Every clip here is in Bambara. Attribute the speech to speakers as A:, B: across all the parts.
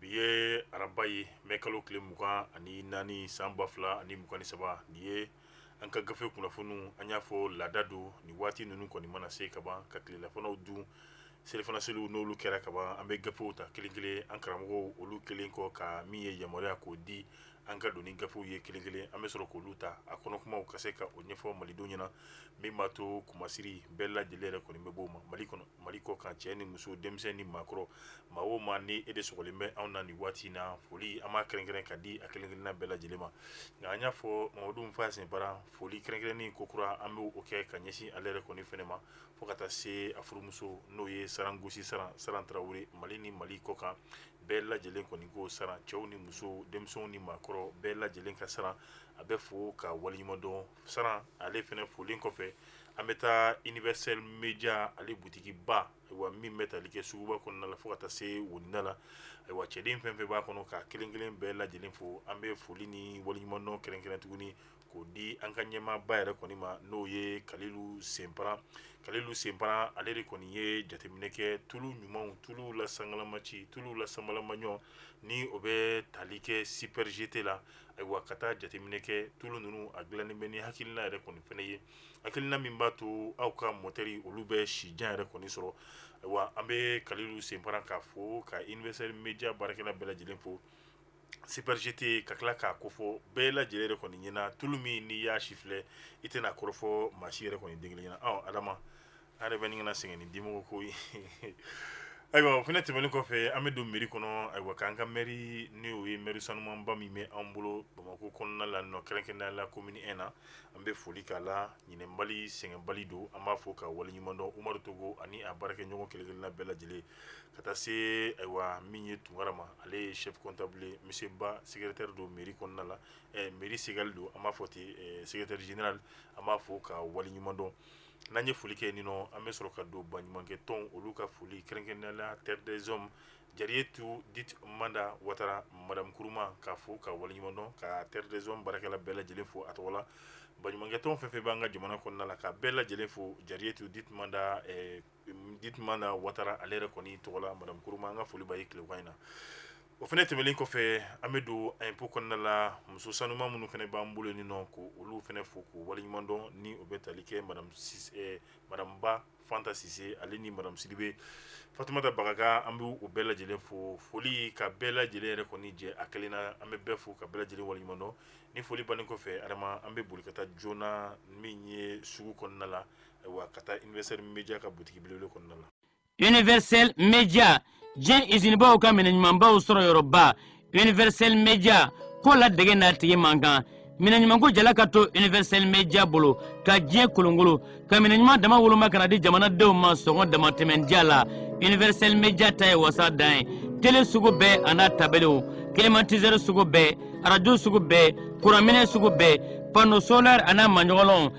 A: Bi ye araba ye mɛ kalo tile mugan ani naani san ba fila ani mugan ni saba nin ye an ka gafe kunnafoniw an y'a fɔ laada don ni waati ninnu kɔni mana se ka ban ka tilelafanaw dun selifana seliw n'olu kɛra kaban an bɛ gafew ta kelen kelen an karamɔgɔw olu kelen kɔ ka min ye yamaruya k'o di an ka don ni gafew ye kelen kelen an bɛ sɔrɔ k'olu ta a kɔnɔ kumaw ka se ka o ɲɛfɔ malidenw ɲɛna min b'a to kumasiri bɛɛ lajɛlen yɛrɛ kɔni bɛ b'o ma mali kɔnɔ mali kɔ kan cɛ ni muso denmisɛn ni maakɔrɔ maa o maa ni e de sɔgɔlen bɛ anw na nin waati na foli an b'a kɛrɛnkɛrɛn ka di a kelen-kelenna bɛɛ lajɛlen ma nka an y'a fɔ Mamadu Nfa Senparan foli kɛrɛnkɛrɛnnen ko kura an bɛ o kɛ ka ɲɛsin ale yɛrɛ kɔni fɛnɛ ma fo ka taa se a furumuso n'o ye saran gosi saran saran tarawele mali ni mali kɔ kan bɛɛ lajɛlen kɔni ko saran cɛw ni muso denmisɛnw ni maakɔrɔ bɛɛ lajɛlen ka saran a bɛ fo ka waleɲumandɔn saran ale fɛnɛ folen kɔfɛ An bɛ taa universel media ale boutique ba ayiwa min bɛ tali kɛ suguba kɔnɔna la fo ka taa se woninda la, ayiwa cɛden fɛn fɛn b'a kɔnɔ k'a kelen kelen bɛɛ lajɛlen fo, an bɛ foli ni waleɲumandɔn kɛrɛnkɛrɛn tuguni k'o di an ka ɲɛmaaba yɛrɛ kɔni ma n'o ye Kalilu Senparan, Kalilu Senparan ale de kɔni ye jateminɛ kɛ tulu ɲumanw, tulu la sangalama ci, tulu la sanbalama ɲɔ ni o bɛ tali kɛ super GT la, ayiwa ka taa jateminɛ kɛ tulu ninnu a dilannen bɛ ni hakilina yɛrɛ kɔni fɛnɛ ye. hakilina min b'a to aw ka motɛri olu bɛ sijan yɛrɛ kɔni sɔrɔ ayiwa an bɛ kalilu senparan k'a fo ka universel media baarakɛla bɛɛ lajɛlen fo super GT ka tila k'a kofɔ bɛɛ lajɛlen yɛrɛ kɔni ɲɛna tulu min n'i y'a sifilɛ i tɛna kɔrɔfɔ maa si yɛrɛ kɔni den kelen ɲɛna adama An yɛrɛ bɛ nin kana sɛgɛn ni dimɔgɔ ko ye ayiwa o fɛnɛ tɛmɛnen kɔfɛ an bɛ don mairie kɔnɔ ayiwa k'an ka mairie n'o ye mairie sanumanba min bɛ an bolo bamakɔ kɔnɔna la nɔ kɛrɛnkɛrɛnnenya la commune un na an bɛ foli k'a la ɲinɛbali sɛgɛnbali don an b'a fo k'a waleɲumandɔn Umaru Togo ani a baarakɛɲɔgɔn kelenkelenna bɛɛ lajɛlen ka taa se ayiwa min ye tunkara ma ale ye chef comptable ye monsieur Ba secrétaire don mairie kɔnɔna la mairie Segal don an b'a fɔ ten secrétaire général an b'a fo k'a waleɲumandɔn n'an ye foli kɛ ninɔ an bɛ sɔrɔ ka don baɲumankɛ tɔn olu ka foli kɛrɛnkɛrɛnnenya la terre des hommes Jariyetu Dite Manda Watara madame Kuruma k'a fo k'a waleɲuman dɔn ka terre des hommes baarakɛla bɛɛ lajɛlen fo a tɔgɔ la baɲumankɛ tɔn fɛn fɛn b'an ka jamana kɔnɔna la ka bɛɛ lajɛlen fo Jariyetu Dite Manda ɛɛ Dite Manda Watara ale yɛrɛ kɔni tɔgɔ la madame Kuruma an ka foli b'a ye tilegan in na O fɛnɛ tɛmɛnen kɔfɛ an bɛ don impôt kɔnɔna la muso sanuman minnu fɛnɛ b'an bolo ni nɔ ko olu fɛnɛ fo k'u waliɲumandɔn ni o bɛ tali kɛ madame Ba Fanta Sise ale ni madame Sidibe Fatumata Bagaga an bɛ u bɛɛ lajɛlen fo foli ka bɛɛ lajɛlen yɛrɛ kɔni jɛ a kelen na an bɛ bɛɛ fo ka bɛɛ lajɛlen waliɲumandɔn ni foli bannen kɔfɛ adama an bɛ boli ka taa joona min ye sugu kɔnɔna la ayiwa ka taa universel media ka butigi belebele kɔnɔna la
B: universel media diɲɛ izinibaw ka minɛ ɲumanbaw sɔrɔ yɔrɔba universel media ko ladege n'a tigi man kan minɛ ɲumanko jala ka to universel media bolo ka diɲɛ kolonkolon ka minɛ ɲuman dama woloma ka na di jamanadenw ma sɔngɔ damatɛmɛn diya la universel media ta ye wasa dan ye tele sugu bɛɛ a n'a tabaliw kilimatisɛri sugu bɛɛ arajo sugu bɛɛ kuranminɛ sugu bɛɛ panneau solaire a n'a maɲɔgɔnlɔnw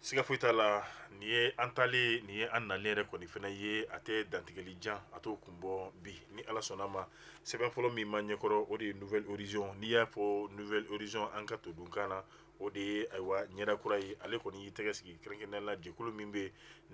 B: siga
A: foyi t'a
B: la
A: nin ye an talen nin ye an nalen yɛrɛ kɔni fana ye a tɛ dantigɛli jan a t'o kun bɔ bi ni ala sɔnna a ma sɛbɛn fɔlɔ min b'an ɲɛkɔrɔ o de ye nouvel horizon n'i y'a fɔ nouvel horizon an ka todunkan na o de ye ayiwa ɲɛda kura ye ale kɔni y'i tɛgɛ sigi kɛrɛnkɛrɛnnenya la jɛkulu min bɛ yen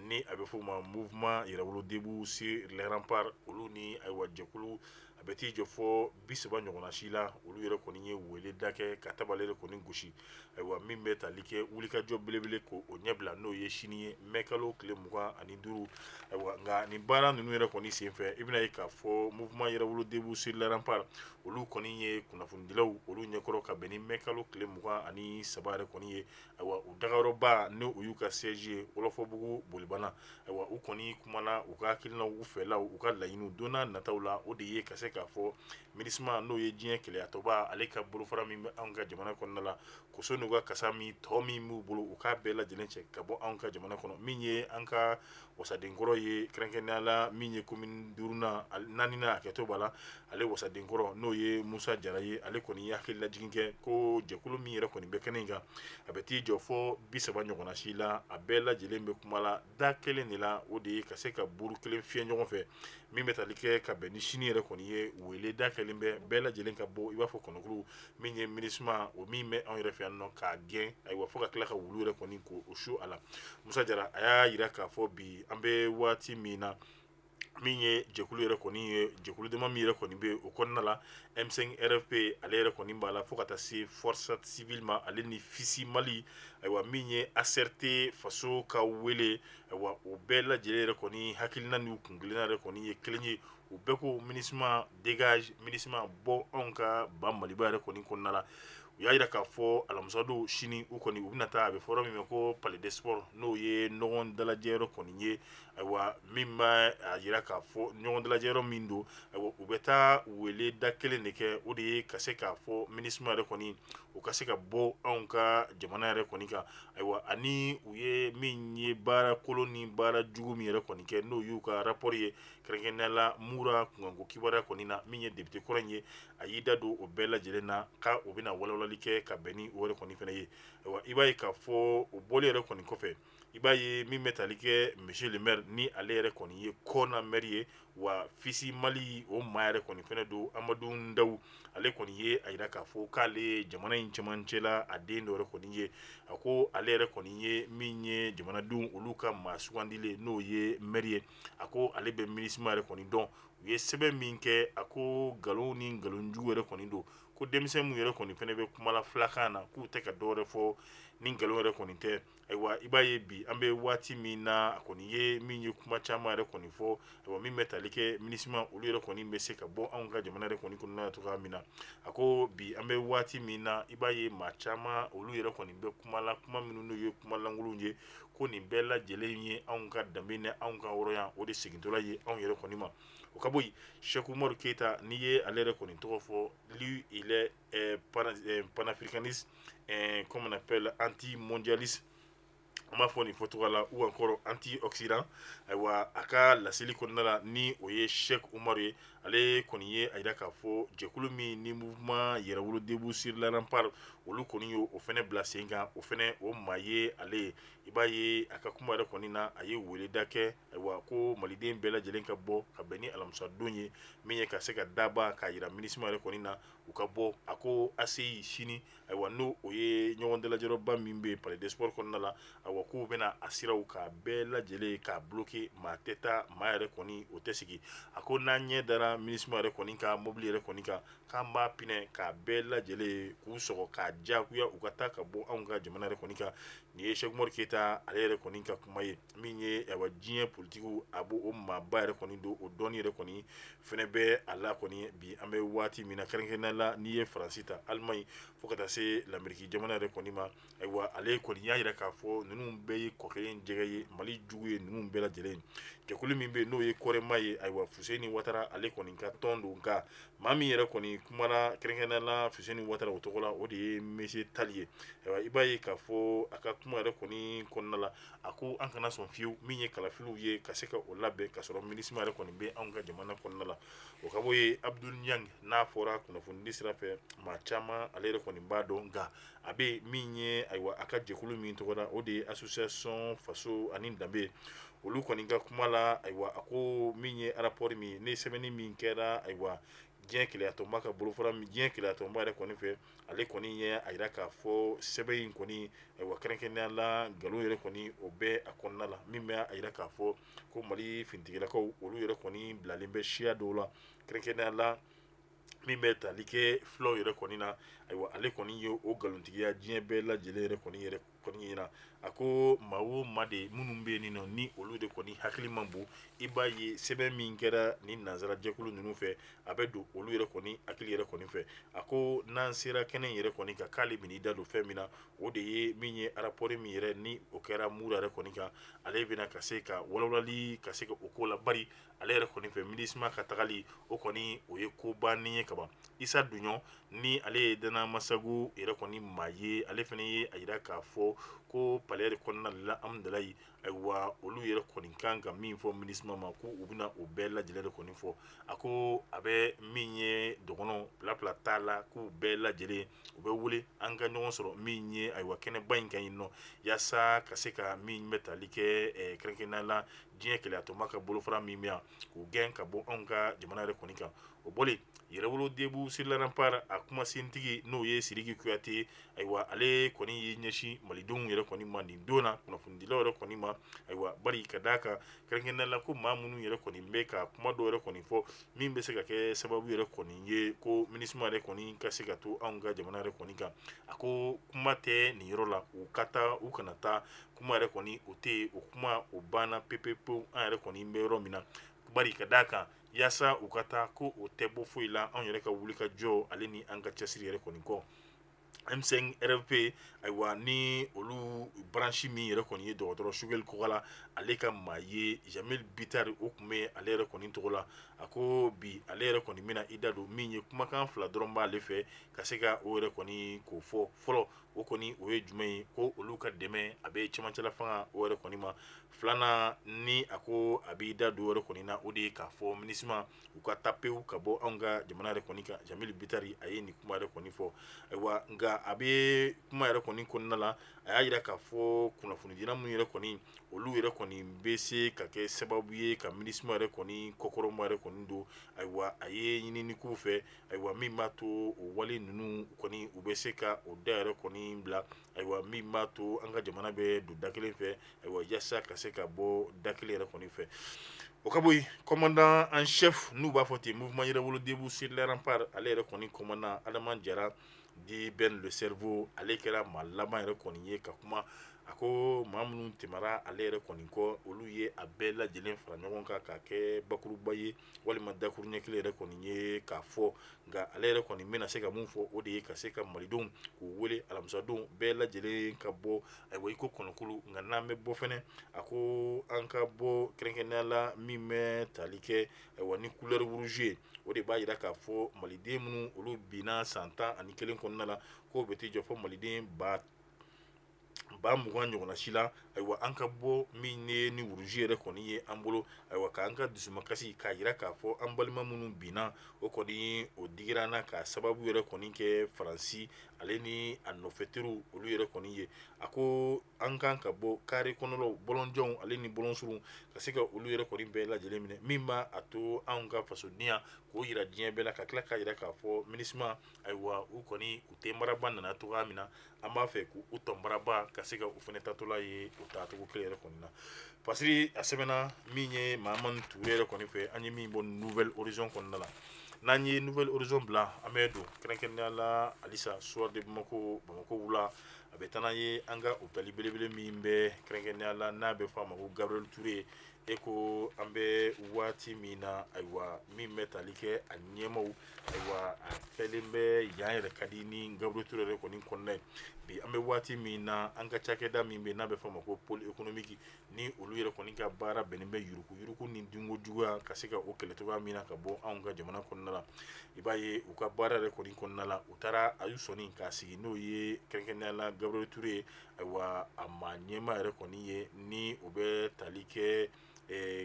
A: ni a bɛ f'o ma mouvement yɛrɛwolo debout sur les remparts olu ni ayiwa jɛkulu a bɛ t'i jɔ fɔ bi saba ɲɔgɔnna si la olu yɛrɛ kɔni ye weeleda kɛ ka tabale yɛrɛ kɔni gosi ayiwa min bɛ tali kɛ wulikajɔ belebele ko o ɲɛbila n'o ye sini ye mɛ kalo tile mugan ani duuru ayiwa nka nin baara ninnu yɛrɛ kɔni senfɛ i bɛn'a ye k'a fɔ mouvement yɛrɛwolo debout sur les remparts olu kɔni ye kunnafonidilaw olu ɲɛkɔrɔ ka bɛn ni mɛ kalo tile mugan ani saba yɛrɛ kɔni ye u dagayɔrɔba n'o y'u ka siège ye wɔlɔfɔbugu bolibana ayiwa u kɔni kumana u ka hakilinaw u fɛlaw u ka laɲini don nataw la o de ye ka se k'a fɔ minusma n'o ye diɲɛ kelenyatɔnba ale ka bolofara min bɛ anw ka jamana kɔnɔna la koso n'u ka kasa min tɔ min b'u bolo u k'a bɛɛ lajɛlen cɛ ka bɔ anw ka jamana kɔnɔ min ye an ka wasadenkɔrɔ ye kɛrɛnkɛrɛnnenya la min ye commune duurunan naaninan a hakɛto b'a la ale wasadenkɔrɔ n'o ye Musa Jara ye ale kɔni ye hakililajigin kɛ ko jɛkulu min yɛrɛ kɔni bɛ kɛnɛ in kan a bɛ t'i jɔ fɔ bi saba ɲɔgɔnna si la a bɛɛ lajɛlen bɛ kuma la da kelen de la o de ye ka se ka buuru kelen fiyɛ ɲɔgɔn fɛ min bɛ tali kɛ ka bɛn ni sini yɛrɛ kɔni ye weeleda kɛlen bɛ bɛɛ lajɛlen ka bɔ i b'a fɔ kɔnɔkulu min ye minusma o min bɛ anw yɛrɛ fɛ yan nɔ k'a gɛn ayiwa fo ka tila ka wulu yɛrɛ kɔni ko o su a la musa jara a y'a jira k'a fɔ bi an bɛ waati min na min ye jɛkulu yɛrɛ kɔni ye jɛkulu dama min yɛrɛ kɔni bɛ o kɔnɔna la m5 rfp ale yɛrɛ kɔni b'a la fo ka taa se force civile ma ale ni fisi mali ayiwa min ye acrt faso ka wele ayiwa o bɛɛ lajɛlen yɛrɛ kɔni hakilina n'u kuntilenna yɛrɛ kɔni ye kelen ye u bɛɛ ko minusma dégage minusma bɔ anw ka ba maliba yɛrɛ kɔni kɔnɔna la u y'a jira k'a fɔ alamisadon sini u kɔni u bɛna taa a bɛ fɔ yɔrɔ min ma ko palais des sports n'o ye ɲɔgɔn dalajɛyɔrɔ kɔni ye ayiwa min b'a jira k'a fɔ ɲɔgɔn dalajɛyɔrɔ min don ayiwa u bɛ taa weleda kelen de kɛ o de ye ka se k'a fɔ minusma yɛrɛ kɔni u ka se ka bɔ anw ka jamana yɛrɛ kɔni kan ayiwa ani u ye min ye baara kolon ni baara jugu min yɛrɛ kɔni kɛ n'o y'u ka rapport ye kɛrɛnkɛrɛnnenya la mura kunkanko kibaruya kɔni na min ye député kɔrɔ in ye a y'i da don o bɛɛ lajɛlen na ka o bɛna walawalali kɛ ka bɛn ni o yɛrɛ kɔni fana ye ayiwa i b'a ye k'a fɔ o bɔli yɛrɛ kɔni kɔfɛ i b'a ye min bɛ tali kɛ monsieur le maire ni ale yɛrɛ kɔni ye kɔna maire ye wa fisi mali o maa yɛrɛ kɔni fana don amadu ndaw ale kɔni ye a yira k'a fɔ k'ale jamana in cɛmancɛ la a den dɔ yɛrɛ kɔni ye a ko ale yɛrɛ kɔni ye min ye jamanadenw olu ka maa sugandilen n'o ye maire ye a ko ale bɛ minisma yɛrɛ kɔni dɔn u ye sɛbɛn min kɛ a ko nkalon ni nkalonjugu yɛrɛ kɔni don ko denmisɛn min yɛrɛ kɔni fana bɛ kumala filakan na k'u tɛ ka dɔwɛrɛ fɔ ni nkalon yɛrɛ kɔni tɛ ayiwa i b'a ye bi an bɛ waati min na a kɔni ye min ye kuma caman yɛrɛ kɔni fɔ ayiwa min bɛ tali kɛ minisma olu yɛrɛ kɔni bɛ se ka bɔ anw ka jamana yɛrɛ kɔni kɔnɔna cogoya min na a ko bi an bɛ waati min na i b'a ye maa caman olu yɛrɛ kɔni bɛ kumala kuma minnu n'u ye kuma lankolon ye ko nin bɛɛ lajɛlen ye anw ka danbe ni anw ka hɔrɔnya o de segintɔla ye anw yɛrɛ kɔni ma o ka bɔ yen sɛki umaru keyita n'i ye ale yɛrɛ kɔni tɔgɔ fɔ lui il est ɛɛ pana ɛɛ panafricaniste ɛɛ comment on appelle anti mondialiste an b'a fɔ nin fɔcogoya la ou encore anti occident ayiwa a ka laseli kɔnɔna la ni o ye sɛki umaru ye ale kɔni ye a jira k'a fɔ jɛkulu min ni mouvement yɛrɛwolo debout sur les remparts olu kɔni y'o o fana bila sen kan, o fana o maa ye ale ye, i b'a ye a ka kuma yɛrɛ kɔni na, a ye weleda kɛ ayiwa ko maliden bɛɛ lajɛlen ka bɔ ka bɛn ni alamisa don ye min ye ka se ka daba k'a jira Minusma yɛrɛ kɔni na u ka bɔ, a ko ACI sini ayiwa n'o o ye ɲɔgɔn dalajɛyɔrɔba min bɛ yen palais des sports kɔnɔna la ayiwa k'u bɛna a siraw k'a bɛɛ lajɛlen k'a bloquer maa tɛ taa maa yɛrɛ kɔni o tɛ segin a ko n'an ɲɛ dara minisma yɛrɛ kɔni ka mobili yɛrɛ kɔni kan k'an b'a pinɛ k'a bɛɛ lajɛlen k'u sɔgɔ k'a diyagoya u ka taa ka bɔ anw ka jamana yɛrɛ kɔni kan nin ye Sɛki Umaru Keyita ale yɛrɛ kɔni ka kuma ye. min ye awa diɲɛ politikiw a b'o o maaba yɛrɛ kɔni don o dɔnni yɛrɛ kɔni fɛnɛ bɛ a la kɔni bi an bɛ waati min na kɛrɛnkɛrɛnnenya la n'i ye faransi ta alimaɲi fo ka taa se lameriki jamana yɛrɛ kɔni ma ayiwa ale kɔni y'a yira k'a fɔ ninnu bɛɛ ye kɔ kelen jɛgɛ ye mali jugu ye ninnu bɛɛ lajɛlen jɛkulu min bɛ yen n'o ye kɔrɛma ye ayiwa fuseni watara ale kɔni ka tɔn don nka maa min yɛrɛ kɔni kumana kɛrɛnkɛrɛnnenya la fuseni watara o tɔgɔ la o de ye monsieur tali ye ayiwa i b'a ye k'a fɔ a ka kuma yɛrɛ kɔni kɔnɔna la a ko an kana sɔn fiyewu min ye kalafiliw ye ka se ka o labɛn k'a sɔrɔ minisma yɛrɛ kɔni bɛ anw ka jamana kɔnɔna la o ka bɔ yen abudul ɲangi n'a fɔra kunnafonidi sira fɛ maa caman ale yɛrɛ kɔni b'a dɔn nka a bɛ min ye ayiwa a ka jɛkulu min tɔgɔ la o de ye association faso ani danbe olu kɔni ka kuma la ayiwa a ko min ye rapport min ni sɛbɛnni min kɛra ayiwa diɲɛ kelenya tɔnba ka bolofara min diɲɛ kelenya tɔnba yɛrɛ kɔni fɛ ale kɔni ye a yira k'a fɔ sɛbɛn in kɔni ayiwa kɛrɛnkɛrɛnnenya la nkalon yɛrɛ kɔni o bɛ a kɔnɔna la min bɛ a yira k'a fɔ ko Mali finitigilakaw olu yɛrɛ kɔni bilalen bɛ siya dɔw la kɛrɛnkɛrɛnnenya la min bɛ tali kɛ fulaw yɛrɛ kɔni na ayiwa ale kɔni ye o nkalontigiya diɲɛ bɛɛ lajɛlen yɛrɛ kɔni yɛrɛ kɔni ɲɛ na a ko maa o maa de minnu bɛ yen nin nɔ ni olu yɛrɛ kɔni hakili man bon i b'a ye sɛbɛn min kɛra ni nansara jɛkulu ninnu fɛ a bɛ don olu yɛrɛ kɔni hakili yɛrɛ kɔni fɛ a ko n'an sera kɛnɛ yɛrɛ kɔni kan k'ale bɛn'i da don fɛn min na o de ye min ye arapɔɔri min yɛrɛ ni o kɛra mura yɛrɛ kɔni kan ale bɛna ka se ka walawalali ka se ka o ko la ale yɛrɛ kɔni fɛ minisma ka tagali o kɔni o ye ko bannen ye kaban isa duɲɔ ni ale ye dana amasagu yɛrɛ kɔni maa ye ale fana ye a yira k'a fɔ ko palais yɛrɛ kɔnɔna la amdalayi ayiwa olu yɛrɛ kɔni kan ka min fɔ minisma ma ko u bɛna o bɛɛ lajɛlen de kɔni fɔ a ko a bɛ min ye dɔgɔnɔ bilabila t'a la k'u bɛɛ lajɛlen u bɛ wele an ka ɲɔgɔn sɔrɔ min ye ayiwa kɛnɛba in kan yen nɔ yaasa ka se ka min bɛ tali kɛ kɛrɛnkɛrɛnnenya la diɲɛ kelenyatɔnba ka bolofara min bɛ yan k'u gɛn ka bɔ anw ka jamana yɛrɛ kɔni kan o bɔlen yɛrɛwolo debu sur les remparts a kumasentigi n'o ye siriki kuyate ayiwa ale kɔni ye ɲɛsin malidenw yɛrɛ kɔni ma nin don na kunnafonidilaw yɛrɛ kɔni ma ayiwa bari ka d'a kan kɛrɛnkɛrɛnnenya la ko maa minnu yɛrɛ kɔni bɛ ka kuma dɔw yɛrɛ kɔni fɔ min bɛ se ka kɛ sababu yɛrɛ kɔni ye ko minisma yɛrɛ kɔni ka se ka to anw ka jamana yɛrɛ kɔni kan a ko kuma tɛ nin yɔrɔ la u ka taa u kana taa kuma yɛrɛ kɔni o tɛ yen o kuma o banna pepepewu an yɛrɛ kɔni bɛ yɔrɔ min na bari ka d'a kan yaasa u ka taa ko o tɛ bɔ foyi la anw yɛrɛ ka wuli ka jɔ ale ni an ka cɛsiri yɛrɛ kɔni kɔ M5 RFP ayiwa ni olu branche min yɛrɛ kɔni ye dɔgɔtɔrɔ Sugɛli Kɔkala ale ka maa ye Jamil Bitari o tun bɛ ale yɛrɛ kɔni tɔgɔ la a ko bi ale yɛrɛ kɔni bɛna i da don min ye kumakan fila dɔrɔn b'ale fɛ ka se ka o yɛrɛ kɔni k'o fɔ fɔlɔ o kɔni o ye jumɛn ye ko olu ka dɛmɛ a bɛ cɛmancɛla fanga o yɛrɛ kɔni ma filanan ni a ko a b'i da don o yɛrɛ kɔni na o de ye k'a fɔ minisma u ka taa pewu ka bɔ anw ka jamana yɛrɛ kɔni kan jamil bitari a ye nin kuma yɛrɛ kɔni fɔ ayiwa nka a bɛ kuma yɛrɛ kɔni kɔnɔna la a y'a yira k'a fɔ kunnafonidila minnu yɛrɛ kɔni olu yɛrɛ kɔni bɛ se ka kɛ sababu ye ka minisma yɛrɛ kɔni kɔkɔrɔma yɛrɛ kɔni don ayiwa a ye ɲinini k'u fɛ ayiwa min b'a to o wale ninnu kɔni u bɛ se ka o da yɛrɛ kɔni bila ayiwa min b'a to an ka jamana bɛ don da kelen fɛ ayiwa yaasa ka se ka bɔ da kelen yɛrɛ kɔni fɛ o ka bɔ yen commandant en chef n'u b'a fɔ ten mouvement yɛrɛwolo debu sur les remparts ale yɛrɛ kɔni commandant Adama Jara dit Ben le cerveau ale kɛra maa laban yɛrɛ kɔni ye ka kuma a ko maa minnu tɛmɛra ale yɛrɛ kɔni kɔ olu ye a bɛɛ lajɛlen fara ɲɔgɔn kan k'a kɛ bakuruba ye walima dakuru ɲɛ kelen yɛrɛ kɔni ye k'a fɔ nka ale yɛrɛ kɔni bɛna se ka mun fɔ o de ye ka se ka malidenw k'u wele alamisadon bɛɛ lajɛlen ka bɔ ayiwa iko kɔnɔkulu nka n'an bɛ bɔ fɛnɛ a ko an ka bɔ kɛrɛnkɛrɛnnenya la min bɛ tali kɛ ayiwa ni couleur rouge ye o de b'a yira k'a fɔ maliden minnu olu binna san tan ani kelen kɔnɔna la k'o bɛ t'i jɔ fo maliden ba ba mugan ɲɔgɔnna si la ayiwa an ka bɔ min ye ni rouge yɛrɛ kɔni ye an bolo ayiwa k'an ka dusumakasi k'a yira k'a fɔ an balima minnu binna o kɔni o digira an na k'a sababu yɛrɛ kɔni kɛ faransi ale ni a nɔfɛteriw olu yɛrɛ kɔni ye a ko an kan ka bɔ kare kɔnɔlaw bɔlɔnjanw ale ni bɔlɔnsurunw ka se ka olu yɛrɛ kɔni bɛɛ lajɛlen minɛ min b'a a to anw ka fasodenya k'o yira diɲɛ bɛɛ la ka tila k'a yira k'a fɔ minusma ayiwa u kɔni u tɔnbaraba nana cogoya min na an b'a fɛ k'u tɔnbaraba ka se ka u fana taatɔla ye o taacogo kelen yɛrɛ kɔni na parce que a sɛbɛnna min ye Mahamane Touré yɛrɛ kɔni fɛ an ye min bɔ Nouvel Horizon kɔnɔna la n'an ye Nouvel Horizon bila an bɛ don kɛrɛnkɛrɛnnenya la halisa Soir de Bamako bamakɔ wula a bɛ taa n'an ye an ka hôpital belebele min bɛ kɛrɛnkɛrɛnnenya la n'a bɛ fɔ a ma ko Gabriel Touré ye E ko an bɛ waati min na ayiwa min bɛ tali kɛ a ɲɛmaaw ayiwa a fɛlen bɛ yan yɛrɛ ka di ni Gabriel Touré yɛrɛ kɔni kɔnɔna ye bi an bɛ waati min na an ka cakɛda min bɛ n'a bɛ fɔ a ma ko pôle économique ni olu yɛrɛ kɔni ka baara bɛnnen bɛ yurugu yurugu ni dunko juguya ka se ka o kɛlɛ cogoya min na ka bɔ anw ka jamana kɔnɔna la i b'a ye u ka baara yɛrɛ kɔni kɔnɔna la u taara ayiwa sɔnin k'a sigi n'o ye kɛrɛnkɛrɛnnenya la Gabriel Touré ye ayiwa a maa ɲɛmaa yɛrɛ kɔni ye ni o bɛ tali kɛ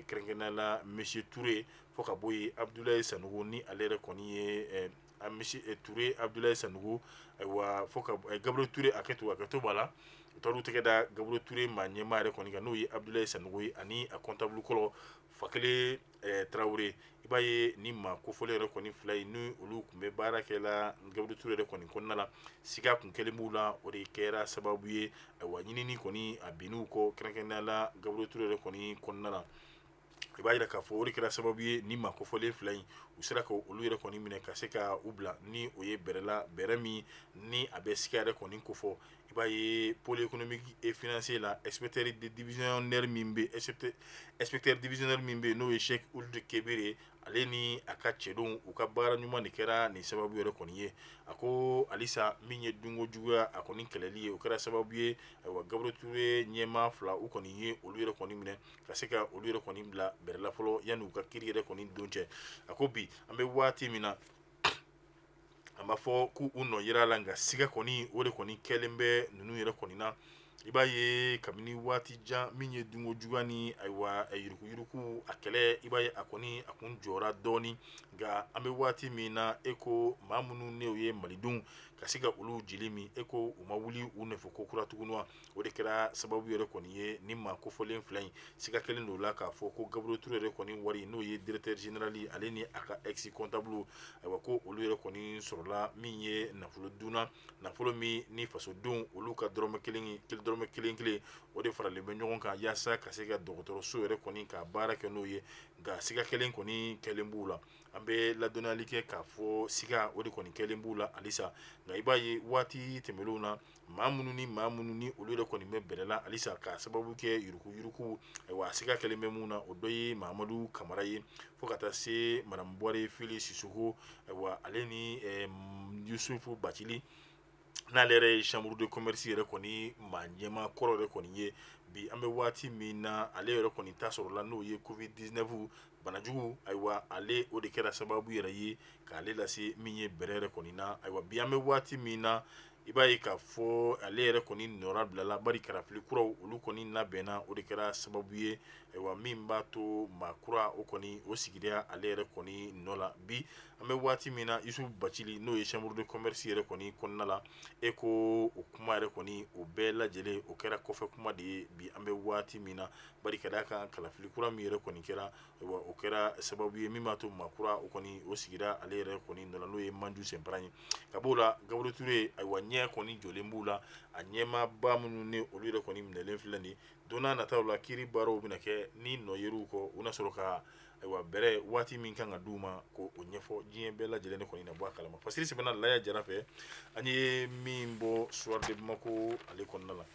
A: kɛrɛnkɛrɛnnenya la monsieur Touré fo ka bɔ yen Abdoulaye Sanogo ni ale yɛrɛ kɔni ye monsieur Touré Abdoulaye Sanogo ayiwa fo Gabriel Touré hakɛto hakɛto b'a la u taara u tɛgɛ da Gabriel Touré maa ɲɛmaa yɛrɛ kɔni kan n'o ye Abdoulaye Sanogo ye ani a comptable kɔrɔ Fakele eh, tarawele i b'a ye ni maa kofɔlen yɛrɛ kɔni fila in ni olu tun bɛ baara kɛ la Gabriel Touré yɛrɛ kɔni kɔnɔna la siga kun kɛlen b'u la o de kɛra sababu ye ayiwa ɲinini kɔni a binn'u kɔ kɛrɛnkɛrɛnnenya la Gabriel Touré yɛrɛ kɔni kɔnɔna la i b'a yira k'a fɔ o de kɛra sababu ye ni maa kofɔlen fila in u sera ka olu yɛrɛ kɔni minɛ ka se ka u bila ni o ye bɛrɛ la bɛrɛ min ni a bɛ siga yɛrɛ kɔni kofɔ i b'a ye pôle économique et financier la inspecteur divisionnaire min bɛ inspecteur divisionnaire min bɛ yen n'o ye Cheick Ould Kebir ale ni a ka cɛdenw u ka baara ɲuman de kɛra nin sababu yɛrɛ kɔni ye a ko halisa min ye dunko juguya a kɔni kɛlɛli ye o kɛra sababu ye ayiwa Gabriel Touré ɲɛmaa fila u kɔni ye olu yɛrɛ kɔni minɛ ka se ka olu yɛrɛ kɔni bila bɛrɛ la fɔlɔ yanni u ka kiiri yɛrɛ kɔni don cɛ a ko bi an bɛ waati min na a b'a fɔ k'u u nɔ yira la nka siga kɔni o de kɔni kɛlen bɛ ninnu yɛrɛ kɔni na i b'a ye kabini waati jan min ye dunko juguya ni ayiwa yuruguyurugu a kɛlɛ i b'a ye a kɔni a kun jɔra dɔɔni nka an bɛ waati min na e ko maa minnu n'o ye malidenw ka se ka olu jeli min e ko u ma wuli u nɔfɛ ko kura tuguni wa o de kɛra sababu yɛrɛ kɔni ye nin maa kofɔlen fila in siga kɛlen don la k'a fɔ ko gabriel ture yɛrɛ kɔni wari n'o ye directeur général ale ni a ka ex comptable ayiwa ko olu yɛrɛ kɔni sɔrɔla min ye nafolo dun na nafolo min ni fasodenw olu ka dɔrɔmɛ kelen dɔrɔmɛ kelen kelen o de faralen bɛ ɲɔgɔn kan yaasa ka se ka dɔgɔtɔrɔso yɛrɛ kɔni ka baara kɛ n'o ye nka siga kelen kɔni kɛlen b'u la an bɛ ladɔnniyali kɛ k'a fɔ siga o de kɔni kɛlen b'u la halisa nka i b'a ye waati tɛmɛnlenw na maa minnu ni maa minnu ni olu yɛrɛ kɔni bɛ bɛrɛ la halisa k'a sababu kɛ yuruguyurugu ayiwa a siga kɛlen bɛ mun na o dɔ ye Mamadu Kamara ye fo ka taa se Madamu Buware Fili Sisoko ayiwa ale ni Yusufu Bacili n'ale yɛrɛ ye chambre de commerce yɛrɛ kɔni maa ɲɛmaa kɔrɔ yɛrɛ kɔni ye bi an bɛ waati min na ale yɛrɛ kɔni ta sɔrɔla n'o ye covid 19 banajugu ayiwa ale o de kɛra sababu yɛrɛ ye k'ale lase min ye bɛrɛ yɛrɛ kɔni na ayiwa bi an bɛ waati min na i b'a ye k'a fɔ ale yɛrɛ kɔni nɔrabilala bari kalafili kuraw olu kɔni labɛnna o de kɛra sababu ye ayiwa min b'a to maa kura o kɔni o sigira ale yɛrɛ kɔni nɔ la bi an bɛ waati min na yusufu bacili n'o ye chambre de commerce yɛrɛ kɔni kɔnɔna la e ko o kuma yɛrɛ kɔni o bɛɛ lajɛlen o kɛra kɔfɛ kuma de ye bi an bɛ waati min na bari ka d'a kan kalafili kura min yɛrɛ kɔni kɛra ayiwa o kɛra sababu ye min b'a to maa kura o kɔni o sigira ale yɛrɛ kɔni nɔ la n'o ye manju senpara ye ka b'o la gabriel ture ayiwa ɲɛ kɔni jɔlen b'u la a ɲɛmaaba minnu ni olu yɛrɛ kɔni minɛlen filɛ nin ye don n'a nataw la kiiri baaraw bɛna kɛ ni nɔ yer'u kɔ u na sɔrɔ ka ayiwa bɛrɛ waati min kan ka d'u ma ko o ɲɛfɔ diɲɛ bɛɛ lajɛlen de kɔni na bɔ a kalama fasiri sɛbɛnna laya jara fɛ an ye min bɔ soir de bamako ale kɔnɔna la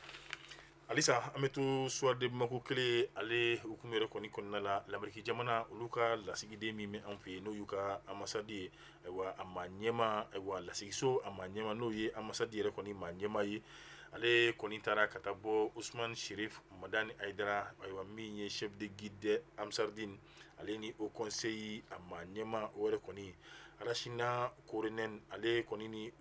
A: Halisa an bɛ to soir de bamako kelen ale hukumu yɛrɛ kɔni kɔnɔna la lameriki jamana olu ka lasigiden min bɛ an fɛ yan n'o y'u ka ambassade ye ayiwa a maa ɲɛmaa ayiwa lasigiso a maa ɲɛmaa n'o ye ambassade yɛrɛ kɔni maa ɲɛmaa ye ale kɔni taara ka taa bɔ usumani serifu madani ayidara ayiwa min ye chef de guide d'ansar dine ale ni haut conseil a maa ɲɛmaa o yɛrɛ kɔni Rachna Korhonen ale kɔni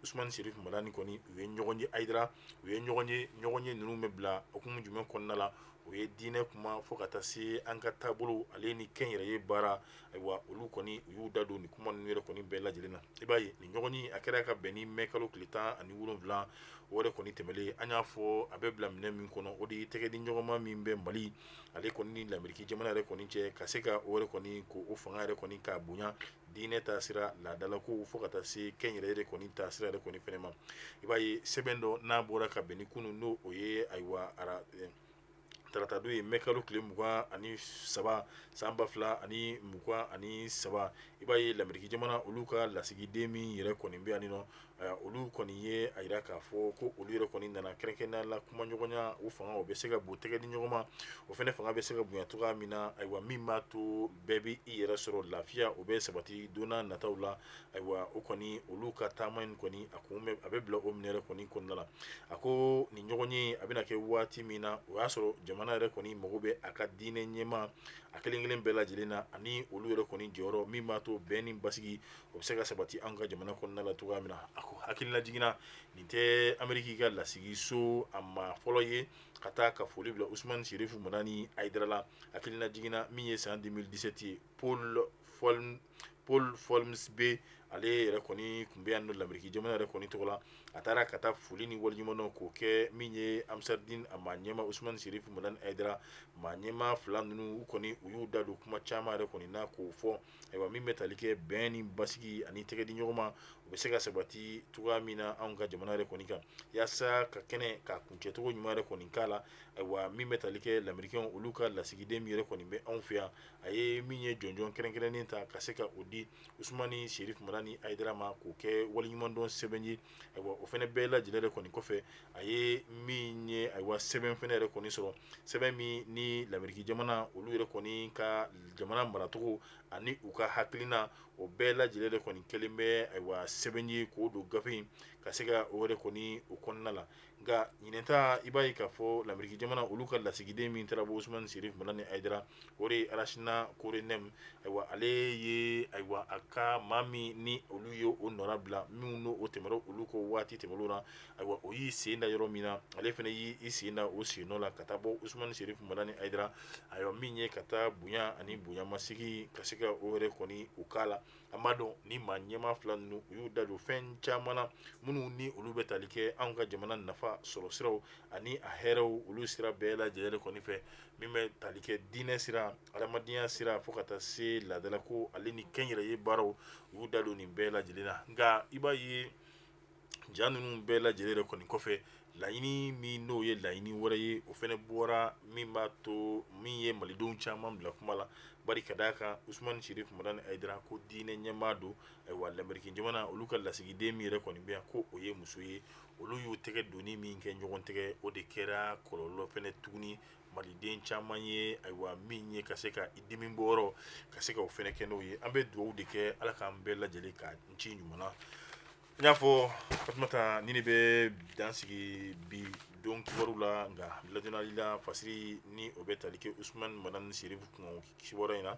A: usumani serifu madani kɔni u ye ɲɔgɔn ye ayidara u ye ɲɔgɔn ye ɲɔgɔnye ninnu bɛ bila hukumu jumɛn kɔnɔna la o ye diinɛ kuma fo ka taa se an ka taabolo ale ni kɛnyɛrɛye baara ayiwa olu kɔni u y'u da don nin kuma ninnu yɛrɛ kɔni bɛɛ lajɛlen na i b'a ye nin ɲɔgɔnye a kɛra ka bɛn ni mɛ kalo tile tan ani wolonwula o yɛrɛ kɔni tɛmɛnlen an y'a fɔ a bɛ bila minɛ min kɔnɔ o de ye tɛgɛdiɲɔgɔnma min bɛ mali ale kɔni ni lameriki jamana yɛrɛ kɔni cɛ ka se ka o yɛrɛ kɔni ko o fanga yɛrɛ kɔni ka bonya diinɛ ta sira laadalakow fo ka taa se kɛnyɛrɛye de kɔni ta sira yɛrɛ kɔni fɛnɛ ma i b'a ye sɛbɛn dɔ n'a bɔra ka bɛn ni kunu n'o o ye ayiwa ara eh, taratadon ye mɛkalo tile mugan ani saba san ba fila ani mugan ani saba i b'a ye lameriki jamana olu ka lasigiden min yɛrɛ kɔni bɛ yani nɔ eh, olu kɔni ye a yira k'a fɔ ko olu yɛrɛ kɔni nana kɛrɛnkɛrɛnnenya la kuma ɲɔgɔnya o fanga o bɛ se ka bon tɛgɛ di ɲɔgɔn ma o fɛnɛ fanga bɛ se ka bonya cogoya min na ayiwa min b'a to bɛɛ bɛ i yɛrɛ sɔrɔ lafiya o bɛ sabati donna nataw la ayiwa o kɔni olu ka taama in kɔni a kun bɛ a bɛ bila o min yɛrɛ kɔni kɔnɔna la a ko nin ɲɔgɔn ye a bɛna kɛ waati min na o y'a sɔrɔ jamana yɛrɛ kɔni mago bɛ a ka diinɛ ɲɛmaa kelen kelen bɛɛ lajɛlen na ani olu yɛrɛ kɔni jɔyɔrɔ min b'a to bɛn ni basigi o bɛ se ka sabati an ka jamana kɔnɔna la cogoya min na a ko hakililajigin na nin tɛ ameriki ka lasigiso a maa fɔlɔ ye ka taa ka foli bila usman sirif madani ayidara la hakilinajigin na min ye san deux mille dix-sept ye paul fɔ paul folmsbee ale yɛrɛ kɔni kun bɛ yan nɔ lameriki jamana yɛrɛ kɔni tɔgɔ la a taara ka taa foli ni waliɲumandɔn k'o kɛ min ye ansardin a maa ɲɛma usman sirif madani ayidara maa ɲɛma fila ninnu kɔni u y'u da don kuma caman yɛrɛ kɔni na k'o fɔ Ayiwa min bɛ tali kɛ bɛn ni basigi ani tɛgɛ di ɲɔgɔn ma o bɛ se ka sabati cogoya min na anw ka jamana yɛrɛ kɔni kan yaasa ka kɛnɛ ka kuncɛcogo ɲuman yɛrɛ kɔni k'a la ayiwa min bɛ tali kɛ lamerikɛnw olu ka lasigiden min yɛrɛ kɔni bɛ anw fɛ yan a ye min ye jɔnjɔn kɛrɛnkɛrɛnnen ta ka se ka o di usmani serif madani ayidara ma k'o kɛ waliɲumandɔn sɛbɛn ye ayiwa o fɛnɛ bɛɛ lajɛlen yɛrɛ kɔni kɔfɛ a ye min ye ayiwa sɛbɛn fɛnɛ yɛrɛ kɔni sɔrɔ sɛbɛn min ni lameriki jamana olu yɛrɛ kɔni ka jamana maracogo ani u ka hakilina o bɛɛ lajɛlen yɛrɛ kɔni kɛlen bɛ ayiwa sɛbɛn ye k'o don gafe in ka se ka o yɛrɛ kɔni o kɔnɔna la nka ɲinɛ ta i b'a ye k'a fɔ lameriki jamana olu ka lasigiden min taara bɔ Usumani Sirif Madani Ayidara o de ye Rachna Korhonen ayiwa ale ye ayiwa a ka maa min ni olu ye o nɔrabila minnu n'o o tɛmɛra olu kɔ waati tɛmɛnenw na ayiwa o y'i sen da yɔrɔ min na ale fana y'i sen da o sennɔ la ka taa bɔ Usumani Sirif Madani Ayidara ayiwa min ye ka taa bonya ani bonyamasegin ka se ka o yɛrɛ kɔni o k'a la an b'a dɔn ni maa ɲɛma fila ninnu u y'u da don fɛn caman na minnu ni olu bɛ tali kɛ anw ka jamana nafa sɔrɔ siraw ani a hɛrɛw olu sira bɛɛ lajɛlen kɔni fɛ min bɛ tali kɛ diinɛ sira adamadenya sira fo ka taa se laadalako ale ni kɛnyɛrɛye baaraw u y'u da don nin bɛɛ lajɛlen na nka i b'a ye ja ninnu bɛɛ lajɛlen de kɔni kɔfɛ laɲini min n'o ye laɲini wɛrɛ ye o fɛnɛ bɔra min b'a to min ye malidenw caman bila kuma la bari ka d'a kan usumani sirif madani ayidara ko diinɛ ɲɛmaa don ayiwa lamɛriki jamana olu ka lasigiden min yɛrɛ kɔni bɛ yan ko o ye muso ye olu y'u tɛgɛ donni min kɛ ɲɔgɔn tɛgɛ o de kɛra kɔlɔlɔ fɛnɛ tuguni maliden caman ye ayiwa min ye ka se ka i dimi bɔyɔrɔ ka se ka o fɛnɛ kɛ n'o ye an bɛ dugawu de kɛ ala k'an bɛɛ lajɛlen kanci ɲuman na n y'a fɔ fatumata nin in bɛ dan sigi bi don kibaru la nka ladɔnniyali la fasiri ni o bɛ tali kɛ usumani madani serifu kun kibaruya in na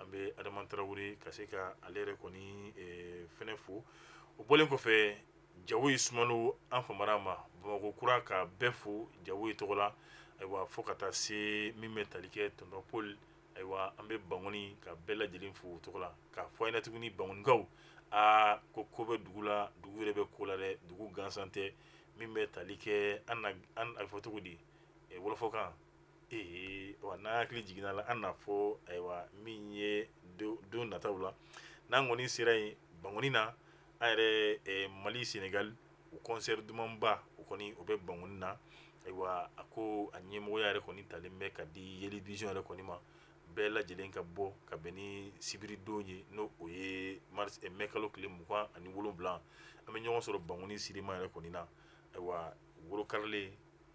A: an bɛ adama tarawele ka se ka ale yɛrɛ kɔni eh, fɛnɛ fo o bɔlen kɔfɛ jawoyi sumano an famara ma bamakɔ kura ka bɛɛ fo jawoyi tɔgɔ la ayiwa fo ka taa se min bɛ tali kɛ tonton paul ayiwa an bɛ bangoni ka bɛɛ lajɛlen fo o tɔgɔ la k'a fɔ an ɲɛna tuguni bangonikaw aa ko ko bɛ dugu la dugu yɛrɛ bɛ ko la dɛ dugu gansan tɛ min bɛ tali kɛ an na an a bɛ fɔ cogo di eh, wɔlɔfɔkan Ayiwa n'an hakili jiginna la an na fɔ ayiwa min ye don nataw la n'an kɔni sera yen bangoni na an yɛrɛ mali senegali o concert dumanba o kɔni o bɛ bangoni na ayiwa a ko a ɲɛmɔgɔya yɛrɛ kɔni talen bɛ ka di yeli vision yɛrɛ kɔni ma bɛɛ lajɛlen ka bɔ ka bɛn ni sibiridon ye n'o o ye mɛ kalo tile mugan ani wolowula an bɛ ɲɔgɔn sɔrɔ bangoni sirima yɛrɛ kɔni na ayiwa worokalen